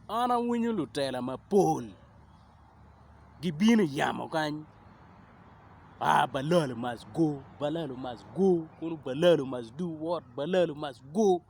An awinyo lutela mapol gibino i yamo kany aa balalo must go balalo must go kulu balalo must do what balalo must go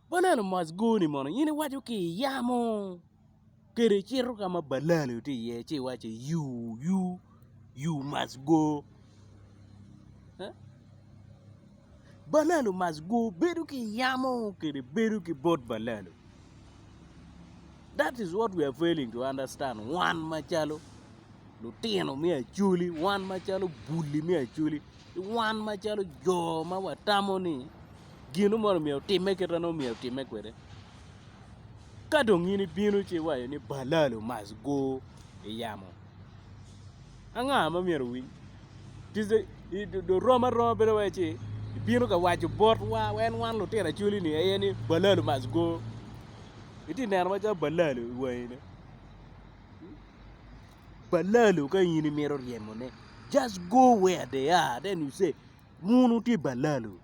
balalo must go ni mono in iwaco ki i yamo. Kadi icito ka ma balali tye iye ci iwaco ni you you you must go ee balalo must go bedo ki yamo kede bedo ki bot balalo that is what we are failing to understand wan macalo lutino me acholi wan macalo buli me acholi ki wan macalo jo ma watamo ni gino moni myero otimme kit ma nongo myero otimme kwede. Ka dong in ibino ci iwaco ni balal omac go i yamo anga ma myero owiny? Rom aroma bedo wai ci ibino ka waco botwa en wan lutino Acholi-ni aye ni balal omac go itye neno macalo balal i wangi ne balal ka in imito ryemone just go where they are then you say un wutye balal.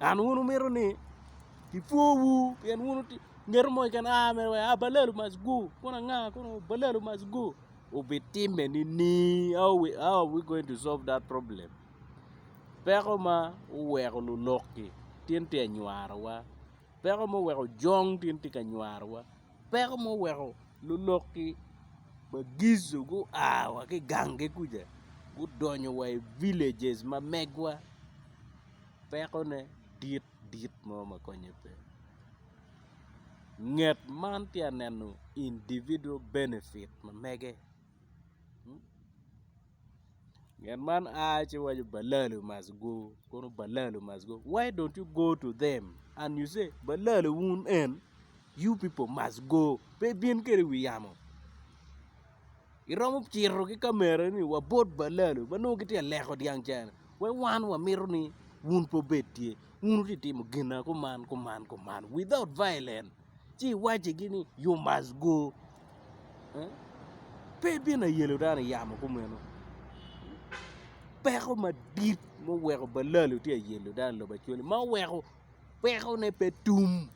An wun wumito ni kipwowu pien wun mito mo keken aa mere wek abalelu mac gu kun anga kun abalelu mac gu obitime nini how are we going to solve that problem peko ma oweko luloki tin tye ka nywarowa peko ma oweko jong tin tye ka nywarowa. Peko ma oweko lulok-ki ma Gizo gua wa ki i ganggi kuca gudonyo wa i villages ma megwa pekone dit dit mo ma konye pe nget man tye ka neno individual benefit ma mege. Nget man a ci waco balalo must go kono balalo must go why don't you go to them and you say balalo wun en you people must go pe ibin kwede i wi yamo iromo cito ki kamera ni wabot balalo ma nongo gitye ka leko dyang ca ni wek wan wamito ni wun pe wubed tye wun wutye ka timo gina kuman kuman kuman without violence. ci iwaccigi ni you must go pe ibino ayelo dano i yamo kumeno peko madit ma oweko balalo tye ka yelo dano i lobo Australia ma oweko pekone pe tum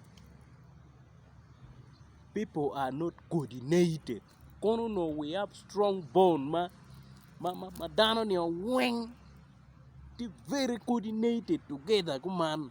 pipo are not coordinated kono onongo we have strong bond ma dano nio weng tye very coordinated together kuman.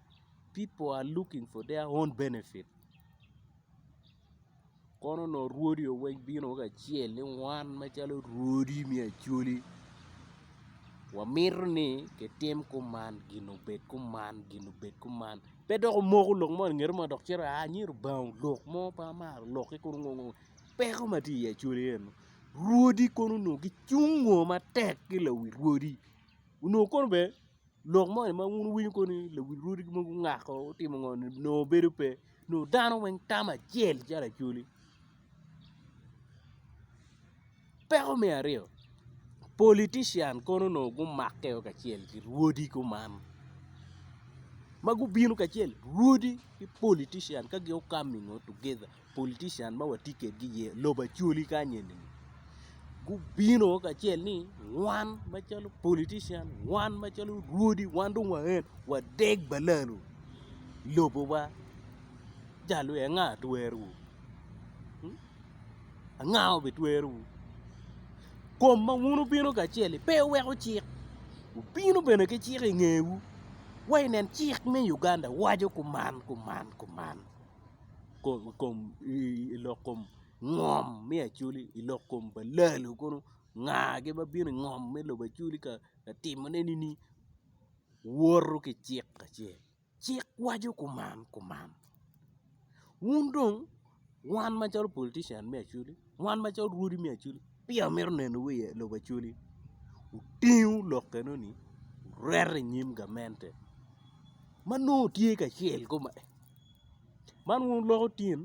Pipo a luking fo deya on benefit kono nongo rwodi o weng bino weng kacel ni wan macalo rwodi me Acholi wamito ni kitim kuman gin obed kuman gin obed kuman pe dok omoko lok mo ingeto ma dok cito aa nyo Lubanga olok mo pe amaro lokke kono ngo ngo peko ma tye i Acholi eno rwodi kono onongo gicung o matek ki lawi rwodi onongo kono bene Lok moni ma wun wuwinyo kony ni lawil rwodi mogo gungako gutimo ngo ni nongo bedo pe nongo dano weng tam acel calo acholi. Peko me aryo politician kono nongo gumakke o kacel ki rwodi kuman ma gubino kacel rwodi ki politician ka gin okami ngo together. Politician ma watye kwedgi i lobo Acholi kany eni gubino kacel ni wan macalo politician wan macalo rwodi wan dong waen wadeg balalo lobowa jalo aye anga twerowu anga ma obitwerowu kom ma wun wubino kacel-li pe wuweko cik wubino bene ki cik ingewu wa inen cik me Uganda waco kuman kuman kuman. ngom me acholi i lok kom pa lalu kunu ngagi ma bino i ngom me lobo acholi ka timone nini woto ki cik acel cik waco kuman kuman wun dong wan macalo politician me acholi wan macalo rwodi me acholi peya wamito neno wa i lobo acholi wutingu lok enoni wureto i nyim gamente ma nongo tye kacel koma. man wun wuloko tin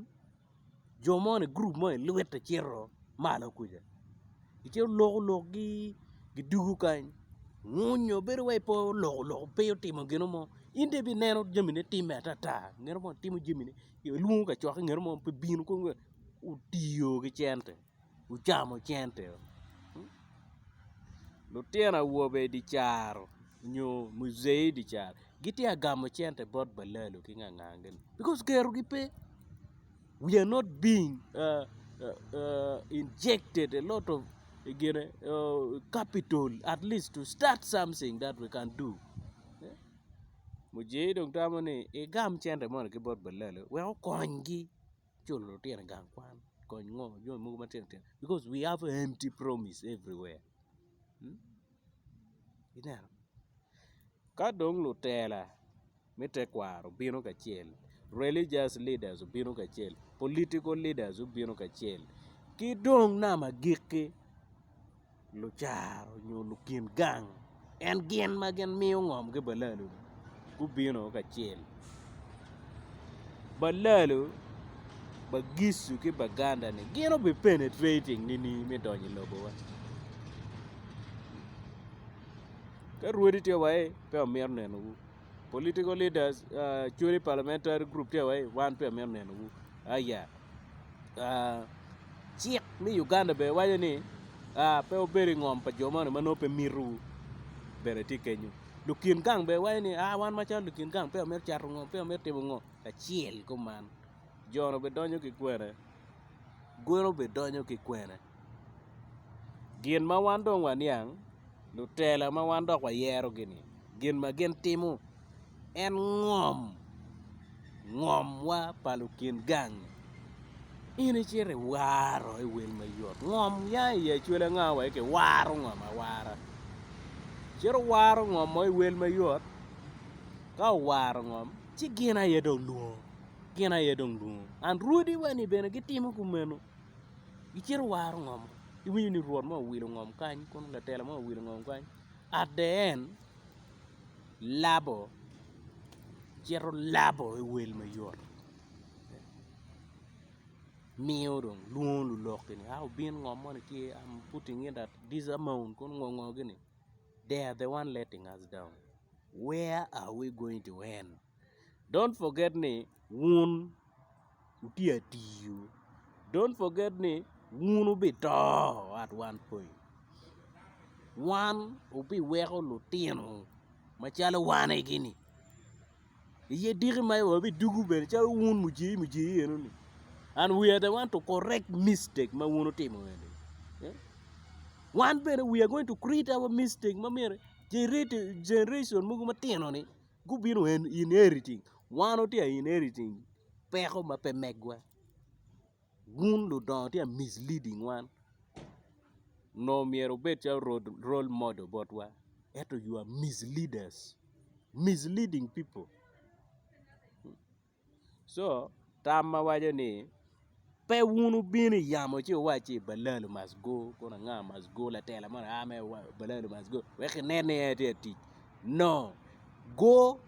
jo moni gurup moni luitte cito malo kuca icito loko lokgi gidwogo kany ngunyo bedo wai pe oloko loko pe otimo gin mo in dong ibineno jamine time atata nget mo timo jamine ilwongo kacok nget mo pe bino kong otiyo ki cente. gucamo cente o lutino awobe idi caro nyo muzei idi caro gitye ka gamo cente bot balalo ki ngangangagi bikos kerogi pe wi are not bing injekted e lot of gine kapitol atlis to stat samting dat wi kan du muzei dong tamo ni igam cente moni ki bot balalo wek okonygi culo lutino i gang kwan kony ngo jami mogo matino tino because we have empty promise everywhere ineno ka dong lutela me tekwaro obino kacel religious leaders obino kacel political leaders obino kacel ki dong nama gikki Lucaro nyo lukin gang en gin ma gin miyo ngom ki balalo gubino kacel balalo bagicu ki baganda ni gin obi penetrating nining me donyo i lobo wa ka rwodi tye wa i pe wamito neno wu political leaders actually parliamentary group tye wa i wan pe wamito neno wu aya. cik me Uganda bene waco ni pe wubed i ngom pa jo moni ma nongo pe mitowu bene tye kenyo lukin gang bene waco ni wan macalo lukin gang peya wamito cato ngo peya wamito timo ngo kacel kuman jone bidonyo ki kwene golo bidonyo ki kwene gin ma wan dong waniang lutela ma wan dok wayerogi-ni gin ma gin timo en ngom ngomwa pa lukin gang in icito iwaro i wel mayot ngom ya i acwal anga wa ci kiwaro ngom awara cito waro ngom mo i wel mayot ka owaro ngom ci gin aye dong lwongo gin aye dong lwongo and rwodi wa ni bene gitimo kumeno gicito waro ngom iwinyo ni rwot mo owilo ngom kany kun latela mo owilo ngom kany at the end labo cito labo i wel mayot miyo dong lwongo luloki ni a obin ngo moni tye am putting in at this amount kun ngo ngo gini they are the one letting us down where are we going to end. don't forget ni wun wutye atiyo, don't forget ni wun wubito at one point, wan wubiweko lutino macalo wan-egi ni iye diki ma en wabidwogo bene calo wun mujee mujee enoni and we are the one to correct mistake ma wun wutimo eni, wan bene we are going to create our mistake ma myero generation mogo matino-ni. Gubino en inheriting. Wan watye a inheriting peko ma pe megwa. Wun ludongo tye ka misleading wan nongo myero wubed calo role model botwa ento you are misleaders, misleading people. co tam ma waco ni pe wun wubino i yamo ci wuwac ni balalo must go kun anga must go latela moni a mere wa balalo must go wek kinen ni en aye tye ka tic no go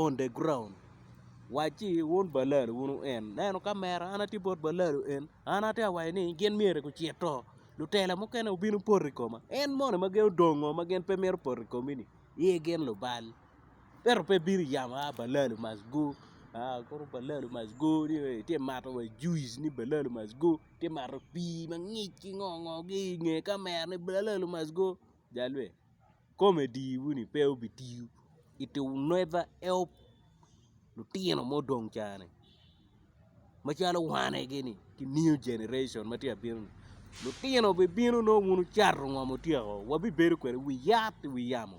on the ground wac ci wun balalo wun wu en neno kamera an atye bot balalo en an atye ka waco ni gin myero gucit to lutela mukene wubino poto i koma en moni ma gin odongo ma gin pe mito poto i komi-ni ye gin lubal. ento pe bino i yamo a balalo must go kono balalo must go ni ee itye ka mato wa juice ni balalo must go itye ka mato pii mangic ki ngo ngo ki i nge kamera ni balalo must go jalwe comedy moni pe obitiyo it will never help. lutino ma odong cani macalo wanegi ni ki new generation ma tye ka bino ni lutino bibino nongo bino cato ngo ma otyeko wabibedo kwede wi yat wi yamo